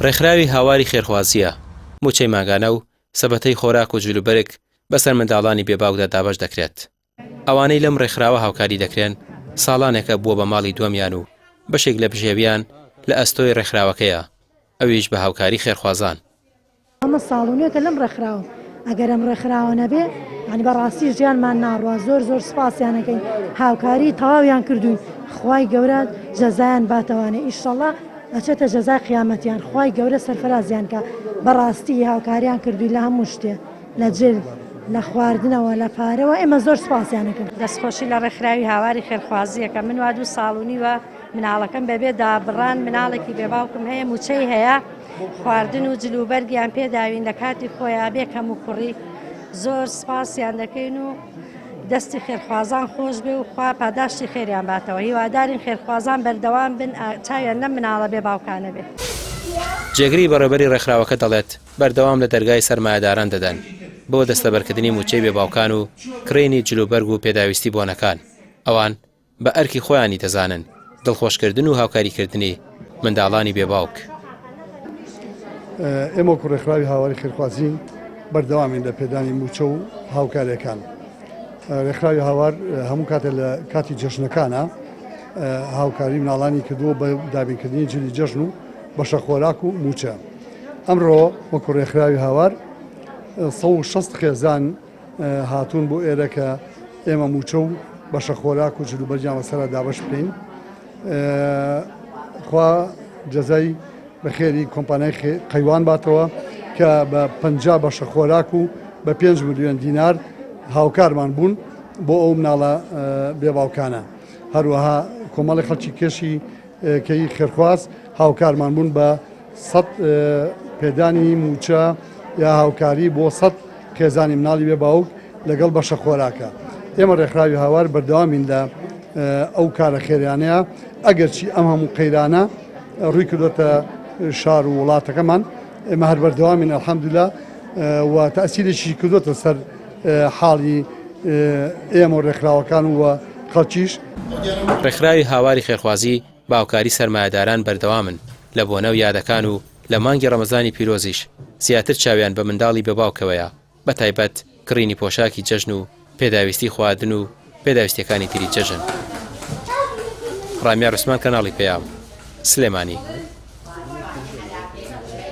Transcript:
ڕێکخراوی هاواری خێرخوازییە مووچەی مانگانە و سەبەتەی خۆراک و جلوبەرگ بەسەر منداڵانی بێ باوکدا دابەش دەکرێت. ئەوانەی لەم ڕێکخراوە هاوکاری دەکرێن ساڵانێکە بووە بە ماڵی دووەمیان و بەشێک لە بژێوییان لە ئەستۆی ڕێکخراوەکەیە، ئەویش بە هاوکاری خێرخوازان. ئەمە ساڵ و نوێکە لەم ڕێکخراوەم ئەگەر ئەم ڕێکخراوە نەبێ یانی بەڕاستی ژیانمان ناڕوا زۆر زۆر سپاسیانەکەین هاوکاری تەواویان کردوین خی گەورە جەزایان باتەوانێ ئیشەڵە ئەچێتە جەزای قیامەتیان خی گەورە سەرفرازیان کە بەڕاستی هاوکاریان کردووی لە هەموو شتێ لە جل لە خواردنەوە لە پارەوە ئێمە زۆر سپاسیانەکەن دەستخۆشی لە ڕێکخراوی هاواری خێرخوازیەکە من وا دوو ساڵ و نیوە مناڵەکەم بەبێ دابڕان مناڵێکی بێ باوکم هەیە موچەی هەیە خواردن و جل و بەرگیان پێداوین لە کاتی خۆیان بێ کەم و کوڕی زۆر سپاسیان دەکەین و دەستی خێرخوازان خۆش بێ و خوا پاداشتی خێریان باتەوە هیوادارین خێرخوازان بەردەوام بن چاویان لەم مناڵە بێ باوکانە بێت. جێگری بەڕێوبەری ڕێکخراوەکە دەڵێت، بەردەوام لە دەرگای سەرمایەداران دەدەن بۆ دەستەبەرکردنی موچەی بێ باوکان و کڕینی جل و بەرگ و پێداویستی بۆنەکان ئەوان، بە ئەرکی خۆیانی دەزانن دڵخۆشکردن و هاوکاریکردنی منداڵانی بێ باوک. ئێمە وەکو ڕێکخراوی هاواری خێرخوازین بەردەوامین لە پێدانی مووچە و هاوکاریەکان ڕێکخراوی هاوار هەموو کاتە لە کاتی جەژنەکانە هاوکاری مناڵانی کردووە بە دابینکردنی جلی جەژن و بەشە خۆراک و مووچە ئەمڕۆ وەکو ڕێکخراوی هاوار 16 خێزان هاتوون بۆ ئێرە کە ئێمە مووچە و بەشە خۆراک و جلوبەرگیان لەسەرا دابش بکەین خوا جەزای بەخێری کۆمپانای قەیوان باتەوە کە بە پ بەشە خۆراک و بە پێنج ملیۆن دینار هاوکارمان بوون بۆ ئەو مناڵە بێباوکانە هەروەها کۆمەڵی خەڵکی کێشی کەی خێرخواز هاوکارمان بوون بە سەد پێدانی موچە یا هاوکاری بۆ سەد خێزانی مناڵی بێ باوک لەگەڵ بەشە خۆراکە ئێمە ڕێکخراوی هاوار بەردەوامین لە ئەو کارە خێریانەیە ئەگەرچی ئەم هەموو قەیرانە ڕووی کردوتە شار و وڵاتەکەمان ئێمە هەر بەردەوامین الحمدلله و تاسیرێکی کردوتە سەر حاڵی ئێمە و ڕێکخراوەکان و خەڵکیش. ڕێکخراوی هاواری خێرخوازی باوکاری سەرمایەداران بەردەوامن لە بۆنە و یادەکان و لە مانگی ڕەمەزانی پیرۆزیش زیاتر چاویان بە منداڵی بێ باوکەوەیە بە تایبەت کڕینی پۆشاکی جەژن و پێداویستی خواردن و پێداویستیەکانی تری جەژن. ڕامیا عوسمان کەناڵی پەیام. سلێمانی.